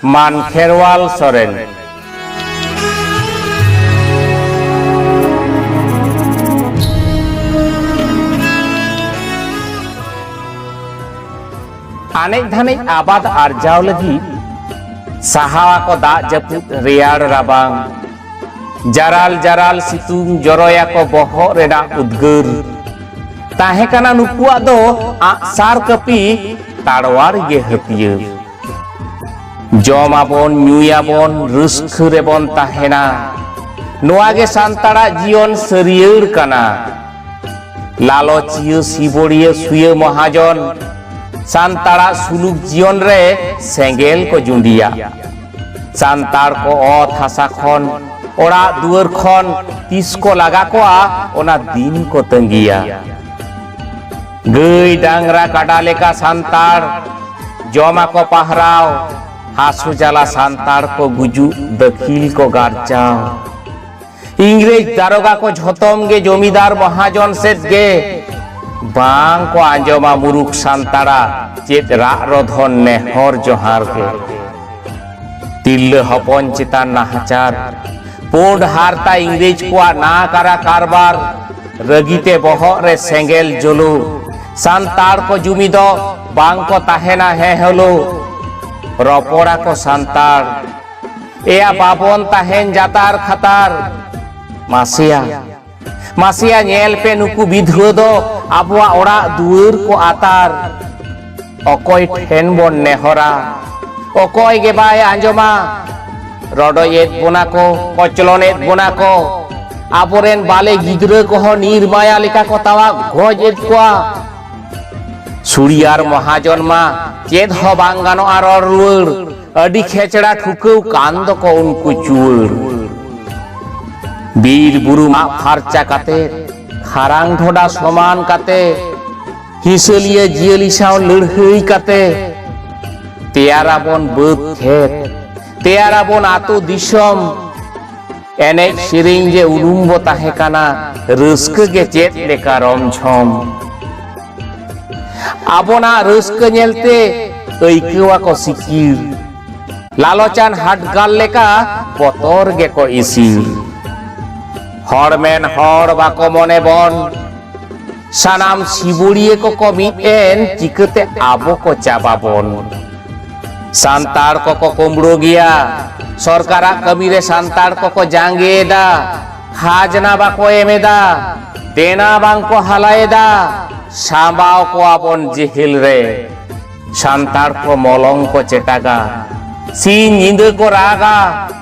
ᱢᱟᱱ ᱠᱷᱮᱨᱣᱟᱞ ᱥᱚᱨᱮᱱ ᱟᱱᱮᱡ ᱫᱷᱟᱱᱮᱡ ᱟᱵᱟᱫ ᱟᱨᱡᱟᱣ ᱞᱟᱹᱜᱤᱫ ᱥᱟᱦᱟᱣᱟ ᱠᱚ ᱫᱟᱜ ᱡᱟᱹᱯᱩᱫ ᱨᱮᱭᱟᱲ ᱨᱟᱵᱟᱝ ᱡᱟᱨᱟᱞ ᱡᱟᱨᱟᱞ ᱥᱤᱛᱩᱝ ᱡᱚᱨᱚᱭᱟ ᱠᱚ ᱵᱚᱦᱚᱜ ᱨᱮᱱᱟᱜ ᱩᱫᱽᱜᱟᱹᱨ ᱛᱟᱦᱮᱸ ᱠᱟᱱᱟ ᱱᱩᱠᱩᱣᱟᱜ ᱫᱚ ᱟᱜᱼᱥᱟᱨ ᱠᱟᱹᱯᱤ ᱛᱟᱲᱣᱟᱨ ᱜᱮ ᱦᱟᱹᱛᱭᱟᱹᱨ ᱡᱚᱢᱟᱵᱚᱱ ᱧᱩᱭᱟᱵᱚᱱ ᱨᱟᱹᱥᱠᱟᱹ ᱨᱮᱵᱚᱱ ᱛᱟᱦᱮᱱᱟ ᱱᱚᱣᱟ ᱜᱮ ᱥᱟᱱᱛᱟᱲᱟᱜ ᱡᱤᱭᱚᱱ ᱥᱟᱹᱨᱭᱟᱹᱲ ᱠᱟᱱᱟ ᱞᱟᱞᱚᱪᱤᱭᱟᱹ ᱥᱤᱵᱚᱲᱤᱭᱟᱹ ᱥᱩᱭᱟᱹ ᱢᱚᱦᱟᱡᱚᱱ ᱥᱟᱱᱛᱟᱲᱟᱜ ᱥᱩᱞᱩᱠ ᱡᱤᱭᱚᱱ ᱨᱮ ᱥᱮᱸᱜᱮᱞ ᱠᱚ ᱡᱩᱸᱰᱤᱭᱟ ᱥᱟᱱᱛᱟᱲ ᱠᱚ ᱚᱛ ᱦᱟᱥᱟ ᱠᱷᱚᱱ ᱚᱲᱟᱜ ᱫᱩᱣᱟᱹᱨ ᱠᱷᱚᱱ ᱛᱤᱥ ᱠᱚ ᱞᱟᱜᱟ ᱠᱚᱣᱟ ᱚᱱᱟ ᱫᱤᱱ ᱠᱚ ᱛᱟᱺᱜᱤᱭᱟ ᱜᱟᱹᱭ ᱰᱟᱝᱨᱟ ᱠᱟᱰᱟ ᱞᱮᱠᱟ ᱥᱟᱱᱛᱟᱲ ᱡᱚᱢᱟᱠᱚ ᱯᱟᱦᱨᱟᱣ ᱦᱟᱥᱩ ᱡᱟᱞᱟ ᱥᱟᱱᱛᱟᱲ ᱠᱚ ᱜᱩᱡᱩᱜ ᱫᱟᱹᱠᱤᱞ ᱠᱚ ᱜᱟᱨᱪᱟᱣ ᱤᱝᱨᱮᱡᱽ ᱫᱟᱨᱚᱜᱟ ᱠᱚ ᱡᱷᱚᱛᱚᱢ ᱜᱮ ᱡᱚᱢᱤᱫᱟᱨ ᱢᱚᱦᱟᱡᱚᱱ ᱥᱮᱫ ᱜᱮ ᱵᱟᱝ ᱠᱚ ᱟᱸᱡᱚᱢᱟ ᱢᱩᱨᱩᱠ ᱥᱟᱱᱛᱟᱲᱟ ᱪᱮᱫ ᱨᱟᱜ ᱨᱚᱫᱷᱚᱱ ᱱᱮᱦᱚᱨ ᱡᱚᱦᱟᱨ ᱜᱮ ᱛᱤᱨᱞᱟᱹ ᱦᱚᱯᱚᱱ ᱪᱮᱛᱟᱱ ᱱᱟᱦᱟᱪᱟᱨ ᱯᱩᱸᱰ ᱦᱟᱨᱛᱟ ᱤᱝᱨᱮᱡᱽ ᱠᱚᱣᱟᱜ ᱱᱟᱠᱟᱨᱟ ᱠᱟᱨᱵᱟᱨ ᱨᱟᱹᱜᱤᱛᱮ ᱵᱚᱦᱚᱜ ᱨᱮ ᱥᱮᱸᱜᱮᱞ ᱡᱩᱞᱩ ᱥᱟᱱᱛᱟᱲ ᱠᱚ ᱡᱩᱢᱤ ᱫᱚ ᱵᱟᱝ ᱠᱚ ᱛᱟᱦᱮᱱᱟ ᱦᱮ ᱦᱮᱞᱳ ᱨᱚᱯᱚᱲᱟ ᱠᱚ ᱥᱟᱱᱛᱟᱲ ᱮᱭᱟ ᱵᱟᱵᱚᱱ ᱛᱟᱦᱮᱱ ᱡᱟᱛᱟᱨ ᱠᱷᱟᱛᱟᱨ ᱢᱟᱥᱮᱭᱟ ᱢᱟᱥᱮᱭᱟ ᱧᱮᱞ ᱯᱮ ᱱᱩᱠᱩ ᱵᱤᱫᱷᱩᱣᱟᱹ ᱫᱚ ᱟᱵᱚᱣᱟᱜ ᱚᱲᱟᱜ ᱫᱩᱣᱟᱹᱨ ᱠᱚ ᱟᱛᱟᱨ ᱚᱠᱚᱭ ᱴᱷᱮᱱ ᱵᱚᱱ ᱱᱮᱦᱚᱨᱟ ᱚᱠᱚᱭ ᱜᱮ ᱵᱟᱭ ᱟᱸᱡᱚᱢᱟ ᱨᱚᱰᱚᱭᱮᱫ ᱵᱚᱱᱟ ᱠᱚ ᱠᱚᱪᱞᱚᱱᱮᱫ ᱵᱚᱱᱟ ᱠᱚ ᱟᱵᱚᱨᱮᱱ ᱵᱟᱞᱮ ᱜᱤᱫᱽᱨᱟᱹ ᱠᱚᱦᱚᱸ ᱱᱤᱨᱢᱟᱭᱟ ᱞᱮᱠᱟ ᱠᱚ ᱛᱟᱣᱟ ᱜᱚᱡ ᱮᱫ ᱠᱚᱣᱟ ᱥᱩᱲᱤᱭᱟᱨ ᱢᱚᱦᱟᱡᱚᱱ ᱢᱟ ᱪᱮᱫ ᱦᱚᱸ ᱵᱟᱝ ᱜᱟᱱᱚᱜᱼᱟ ᱨᱚᱲ ᱨᱩᱣᱟᱹᱲ ᱟᱹᱰᱤ ᱠᱷᱮᱪᱲᱟ ᱴᱷᱩᱠᱟᱹᱣ ᱠᱟᱱ ᱫᱚᱠᱚ ᱩᱱᱠᱩ ᱪᱩᱣᱟᱹᱲ ᱵᱤᱨ ᱵᱩᱨᱩ ᱢᱟᱜ ᱯᱷᱟᱨᱪᱟ ᱠᱟᱛᱮ ᱠᱷᱟᱨᱟᱝ ᱰᱷᱚᱰᱟ ᱥᱚᱢᱟᱱ ᱠᱟᱛᱮ ᱦᱤᱥᱟᱹᱞᱤᱭᱟᱹ ᱡᱤᱭᱟᱹᱞᱤ ᱥᱟᱶ ᱞᱟᱹᱲᱦᱟᱹᱭ ᱠᱟᱛᱮ ᱛᱮᱭᱟᱨᱟᱵᱚᱱ ᱵᱟᱹᱫᱽ ᱠᱷᱮᱛ ᱛᱮᱭᱟᱨᱟᱵᱚᱱ ᱟᱛᱳ ᱫᱤᱥᱚᱢ ᱮᱱᱮᱡ ᱥᱮᱨᱮᱧ ᱜᱮ ᱩᱨᱩᱢ ᱵᱚ ᱛᱟᱦᱮᱸ ᱠᱟᱱᱟ ᱨᱟᱹᱥᱠᱟᱹ ᱜᱮ ᱪᱮᱫ ᱞᱮᱠᱟ ᱨᱚᱢ ᱡᱷᱚᱢ ᱟᱵᱚᱱᱟᱜ ᱨᱟᱹᱥᱠᱟᱹ ᱧᱮᱞᱛᱮ ᱟᱹᱭᱠᱟᱹᱣ ᱟᱠᱚ ᱥᱤᱠᱤᱨ ᱞᱟᱞᱚᱪᱟᱱ ᱦᱟᱴᱜᱟᱞ ᱞᱮᱠᱟ ᱵᱚᱛᱚᱨ ᱜᱮᱠᱚ ᱤᱥᱤᱨ ᱦᱚᱲ ᱢᱮᱱ ᱦᱚᱲ ᱵᱟᱠᱚ ᱢᱚᱱᱮ ᱵᱚᱱ ᱥᱟᱱᱟᱢ ᱥᱤᱵᱩᱲᱤᱭᱟᱹ ᱠᱚᱠᱚ ᱢᱤᱫ ᱮᱱ ᱪᱤᱠᱟᱹᱛᱮ ᱟᱵᱚ ᱠᱚ ᱪᱟᱵᱟᱵᱚᱱ ᱥᱟᱱᱛᱟᱲ ᱠᱚᱠᱚ ᱠᱩᱢᱵᱽᱲᱩ ᱜᱮᱭᱟ ᱥᱚᱨᱠᱟᱨᱟᱜ ᱠᱟᱹᱢᱤ ᱨᱮ ᱥᱟᱱᱛᱟᱲ ᱠᱚᱠᱚ ᱡᱟᱸᱜᱮᱭᱮᱫᱟ ᱠᱷᱟᱡᱽᱱᱟ ᱵᱟᱠᱚ ᱮᱢᱮᱫᱟ ᱫᱮᱱᱟ ᱵᱟᱝᱠᱚ ᱦᱟᱞᱟᱭᱮᱫᱟ ᱥᱟᱢᱵᱟᱣ ᱠᱚᱣᱟ ᱵᱚᱱ ᱡᱤᱦᱤᱞ ᱨᱮ ᱥᱟᱱᱛᱟᱲ ᱠᱚ ᱢᱚᱞᱚᱝ ᱠᱚ ᱪᱮᱴᱟᱜᱟ ᱥᱤᱧ ᱧᱤᱫᱟᱹ ᱠᱚ ᱨᱟᱜᱟ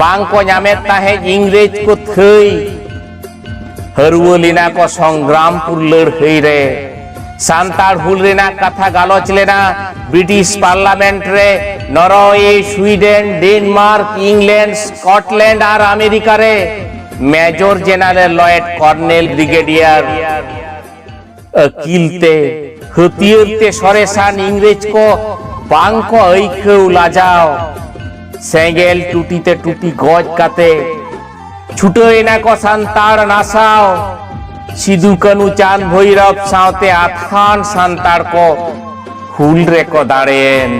ᱵᱟᱝ ᱠᱚ ᱧᱟᱢᱮᱫ ᱛᱟᱦᱮᱸᱫ ᱤᱝᱨᱮᱡᱽ ᱠᱚ ᱛᱷᱟᱹᱭ ᱦᱟᱹᱨᱣᱟᱹ ᱞᱮᱱᱟ ᱠᱚ ᱥᱚᱝᱜᱨᱟᱢᱯᱩᱨ ᱞᱟᱹᱲᱦᱟᱹᱭ ᱨᱮ ᱥᱟᱱᱛᱟᱲ ᱦᱩᱞ ᱨᱮᱱᱟᱜ ᱠᱟᱛᱷᱟ ᱜᱟᱞᱚᱪ ᱞᱮᱱᱟ ᱵᱨᱤᱴᱤᱥ ᱯᱟᱨᱞᱟᱢᱮᱱᱴ ᱨᱮ Norway Sweden Denmark England Scotland ᱟᱨ ᱟᱢᱮᱨᱤᱠᱟ ᱨᱮ ᱢᱮᱡᱚᱨ ᱡᱮᱱᱟᱨᱮᱞ ᱞᱚᱭᱮᱰ ᱠᱚᱨᱱᱮᱞ ᱵᱨᱤᱜᱮᱰᱤᱭᱟᱨ ᱟᱹᱠᱤᱞ ᱛᱮ ᱦᱟᱹᱛᱭᱟᱹᱨ ᱛᱮ ᱥᱚᱨᱮᱥᱟᱱ ᱤᱝᱨᱮᱡᱽ ᱠᱚ ᱵᱟᱝ ᱠᱚ ᱟᱹᱭᱠᱟᱹᱣ ᱞᱟᱡᱟᱣ ᱥᱮᱸᱜᱮᱞ ᱴᱩᱴᱤ ᱛᱮ ᱴᱩᱴᱤ ᱜᱚᱡ ᱠᱟᱛᱮ ᱪᱷᱩᱴᱟᱹᱣ ᱮᱱᱟ ᱠᱚ ᱥᱟᱱᱛᱟᱲ ᱱᱟᱥᱟᱣ ᱥᱤᱫᱩ ᱠᱟᱹᱱᱩ ᱪᱟᱸᱫ ᱵᱷᱳᱭᱨᱚᱵ ᱥᱟᱶᱛᱮ ᱟᱛᱷᱟᱱ ᱥᱟᱱᱛᱟᱲ ᱠᱚ ᱦᱩᱞ ᱨᱮᱠᱚ ᱫᱟᱲᱮᱭᱮᱱ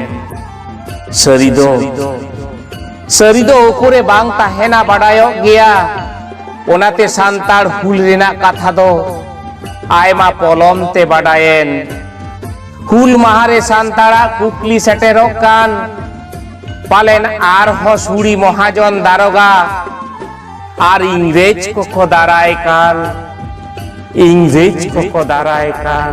ᱥᱟᱹᱨᱤ ᱫᱚ ᱥᱟᱹᱨᱤ ᱫᱚ ᱩᱠᱩᱨᱮ ᱵᱟᱝ ᱛᱟᱦᱮᱱᱟ ᱵᱟᱰᱟᱭᱚᱜ ᱜᱮᱭᱟ ᱚᱱᱟᱛᱮ ᱥᱟᱱᱛᱟᱲ ᱦᱩᱞ ᱨᱮᱱᱟᱜ ᱠᱟᱛᱷᱟ ᱫᱚ ᱟᱭᱢᱟ ᱯᱚᱞᱚᱢ ᱛᱮ ᱵᱟᱰᱟᱭᱮᱱ ᱦᱩᱞ ᱢᱟᱦᱟ ᱨᱮ ᱥᱟᱱᱛᱟᱲᱟᱜ ᱠᱩᱠᱞᱤ ᱥᱮᱴᱮᱨᱚᱜ ᱠᱟᱱ ᱯᱟᱞᱮᱱ ᱟᱨᱦᱚᱸ ᱥᱩᱲᱤ ᱢᱚᱦᱟᱡᱚᱱ ᱫᱟᱨᱚᱜᱟ ᱟᱨ ᱤᱝᱨᱮᱡᱽ ᱠᱚᱠᱚ ᱫᱟᱨᱟᱭ ᱠᱟᱱ ᱤᱝᱨᱮᱡᱽ ᱠᱚᱠᱚ ᱫᱟᱨᱟᱭ ᱠᱟᱱ